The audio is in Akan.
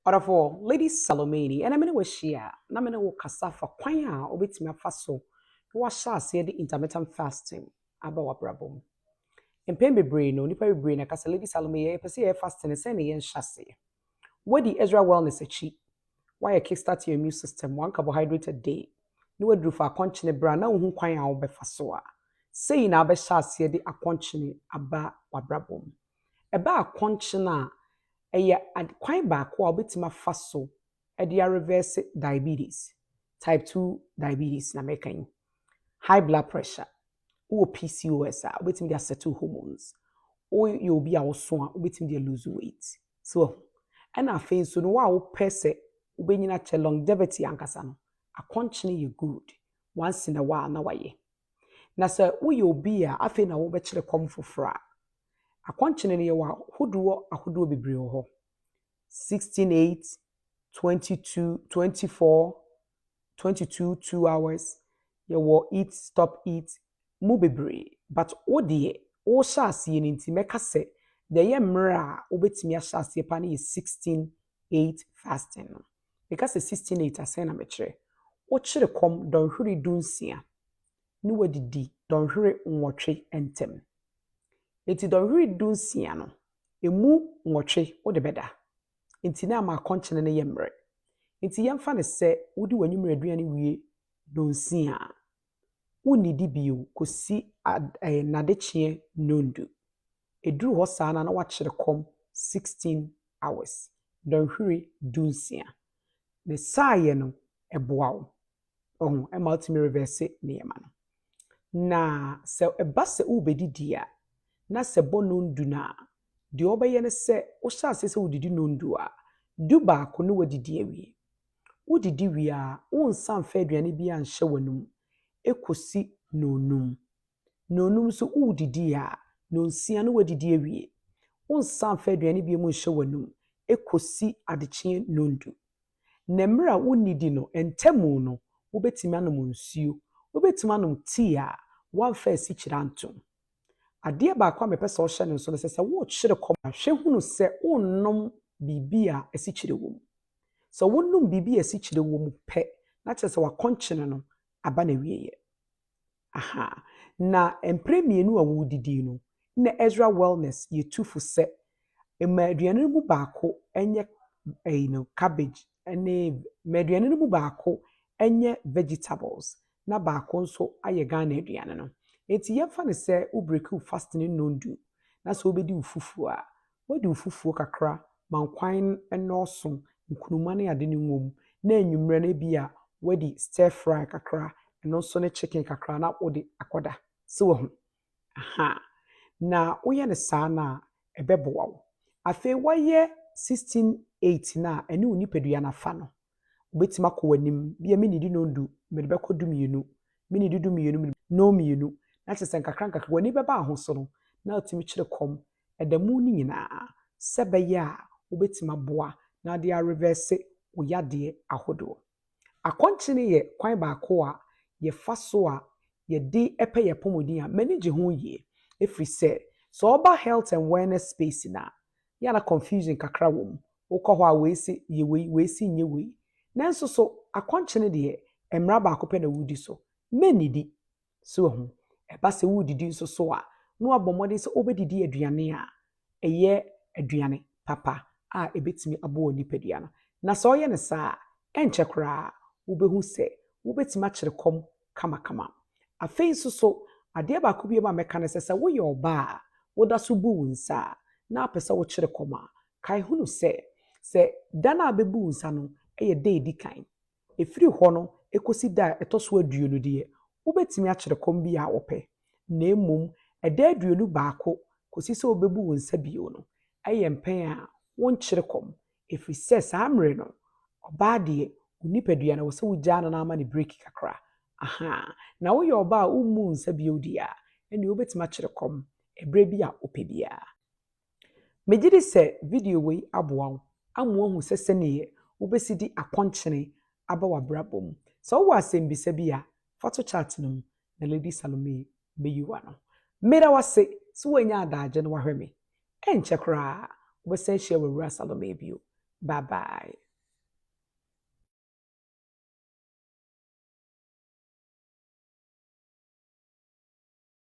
Ɔdɔfoɔ, Lady Salomeini, ɛnnɛ me ne wo ahyia a, na me ne wo rekasa afa kwan a wobɛtumi afa so na woahyɛ aseɛ de intermittent fasting aba w'abrabɔ mu. Mpɛn bebree no, nnipa bebree na ɛka sɛ, Lady Salome, yɛ, yɛpɛ sɛ yɛyɛ fasting no, sɛn na yɛnhyɛ aseɛ? Woadi Ezra Wellness akyi, woayɛ Kickstart Your Immune System, one carbohydrate a day, na woaduru fa akɔnkyene berɛ a na wonhu kwan a wobɛfa so a, sei na wobɛhyɛ aseɛ de akɔnkyene aba w'abrabɔ mu. Ɛbaa kɔnkyen a, ɛyɛ ad kwan baako a wobɛtumi afa so de arevɛɛse diabetes, type two diabetes na mɛka yi, high blood pressure, wowɔ PCOS a wobɛtumi de asɛto hormones, woyɛ obi a woso a wobɛtumi de aluuzu weight. So wahu? Ɛna afei nso no wo a wopɛ sɛ wobɛnyini akyɛ longevity ankasa no, akɔnkyen yɛ good, once in a while na wayɛ. Na sɛ woyɛ obi a afei na wobɛkyerɛ kɔm foforɔ a, akɔnkyene no yɛwɔ ahodoɔ ahodoɔ bebree wɔ hɔ, 16 8, 22, 24, 22 2 hours, yɛwɔ eat stop eat mu bebree. But wo deɛ wohyɛ aseɛ no nti mɛka sɛ deɛ ɛyɛ mmerɛ a wobɛtumi ahyɛ aseɛ paa no yɛ 16 8 fasting no. Meka sɛ sixteen eight a, sɛn na mɛkyerɛ? Wokyere kɔm dɔnhwere dunsia ne woadidi dɔnhwere nwɔtwe ntam. Enti dɔnhwere dunsia no, ɛmu nwɔtwe wode bɛda. Enti na ama akɔnkyene no yɛ mmerɛ. Enti yɛmfa no sɛ wodi w'anwummerɛ aduane wie nnɔnsia a, wonnidi bio kɔsi ad ɛɛ n'adekyeɛ nnɔndu. Ɛduru hɔ saa no a na wakyere kɔm sixteen hours, dɔnhwere dunsia. Ne saayɛ no, ɛboa wo. Wahu? Ɛma wotumi revɛɛse nneɛma no. Na sɛ ɛba sɛ worebɛdidi a, na sɛ ɛbɔ nnɔndu no a, deɛ wobɛyɛ ne sɛ, wohyɛ aseɛ sɛ wodidi nnɔndu a, du baako na woadidi awie. Wodidi wie a, wonsa mfa aduane biara nhyɛ w'anom kosi nnɔnnum. Nnɔnnum nso, wodidi a, nnɔnsia no woadidi awie. Wonsa mfa aduane biara nhyɛ w'anom kosi adekyeɛ nnɔndu. Na mmerɛ a wonnidi no ntamu no, wobɛtumi anom nsuo. Wobɛtumi anom tea a woamfa asikyire antom. Adeɛ baako a mepɛ sɛ wohyɛ no nso no, ɛsɛ sɛ wokyere kɔm a, hwɛ hunu sɛ wonnom biribi a asikyire wɔ mu. Sɛ wonom biribi a asikyire wɔ mu pɛ na kyerɛ sɛ w'akɔnkyene no aba n'awieeɛ. Aha, na mprɛ mmienu a wɔredidi no, na Ezra Wellness yɛ tufo sɛ, Ma aduane no mu baako nyɛ ɛyi no, cabbage ne, ma aduane no mu baako nyɛ vegetables na baako nso ayɛ Ghana aduane no. Enti yɛmfa no sɛ wo breaki wo fasting nnɔndu na sɛ wobɛdi wo fufuo a, Wadi wo fufuo kakra ma nkwan no nnɔɔso, nkruma ne ade no ngom, na anwummerɛ no ebia wadi stir fry kakra, ɛno nso ne chicken kakra na wode akɔda. So wahu? Ahaa. Na woyɛ no saa no a, ɛbɛboa wo. Afei woayɛ sixteen eight no a, ɛne wo nipadua no afa no, wobɛtumi akɔ w'anim. Bia mennidi nondu, mede bɛkɔ du mmienu, mennidi du mmienu, mede. Nonmmienu. Na kyerɛ sɛ nkakrankakra w'ani bɛba ahosono na atumi kyere kɔm Da mu no nyinaa sɛ ɛbɛyɛ a wobɛtumi aboa na wode arevɛɛse wo yadeɛ ahodoɔ. Akɔnkyene yɛ kwan baako a yɛfa so a yɛde pɛ yɛn apɔmuden a m'ani gye ho yie ɛfiri sɛ, sɛ woba health and wellness space no a, yɛ a na confusion kakra wɔ mu. Wokɔ hɔ a wei se yɛ wei, wei se nyɛ wei. Nanso so akɔnkyene deɛ mmara baako pɛ na wodi so, mɛnnidi. So wahu? Ɛba sɛ woredidi nso so a, na wabɔ mmɔden sɛ obedidi aduane a ɛyɛ aduane papa a ebetumi aboa wo nipadua no. Na sɛ ɔyɛ no saa a, ɛnkyɛ koraa wubehu sɛ wubetumi akyere kɔm kamakama. Afei nso so, adeɛ baako bio a mɛka ne sɛ, sɛ woyɛ ɔbaa a woda so bu wo nsa a, na wopɛ sɛ wokyere kɔm a, kae hunu sɛ, sɛ da no a wobɛbu wo nsa no yɛ da a edi kan, Ɛfiri hɔ no kɔsi da a ɛtɔ so aduonu deɛ, wobɛtumi akyere kɔm biara a wopɛ, na mmom ɛda aduonu baako kɔsi sɛ wobɛbu wo nsa bio no, ɛyɛ mpɛn a wonkyere kɔm, ɛfiri sɛ saa mmerɛ no, ɔbaa deɛ, wo nipadua no, ɛwɔ sɛ wogyaa no na ama no breki kakra. Ahaa. Na woyɛ ɔbaa a wommuu nsa bio deɛ a, ɛnneɛ wobɛtumi akyere kɔm berɛ bi a wopɛ biara. Megye di sɛ video wei aboa wo ama woahu sɛ sɛdeɛ wobɛsi de akɔnkyene aba w'abrabɔ mu. Sɛ wowɔ asɛmbisa bi a, fa to chat no mu na Lady Salomee bɛyi wo ano. Meda wo ase sɛ woanya adagye na woahwɛ me. Ɛnkyɛ koraa wobɛsan ahyia w'Awuraa Salomee bio. Bye bye.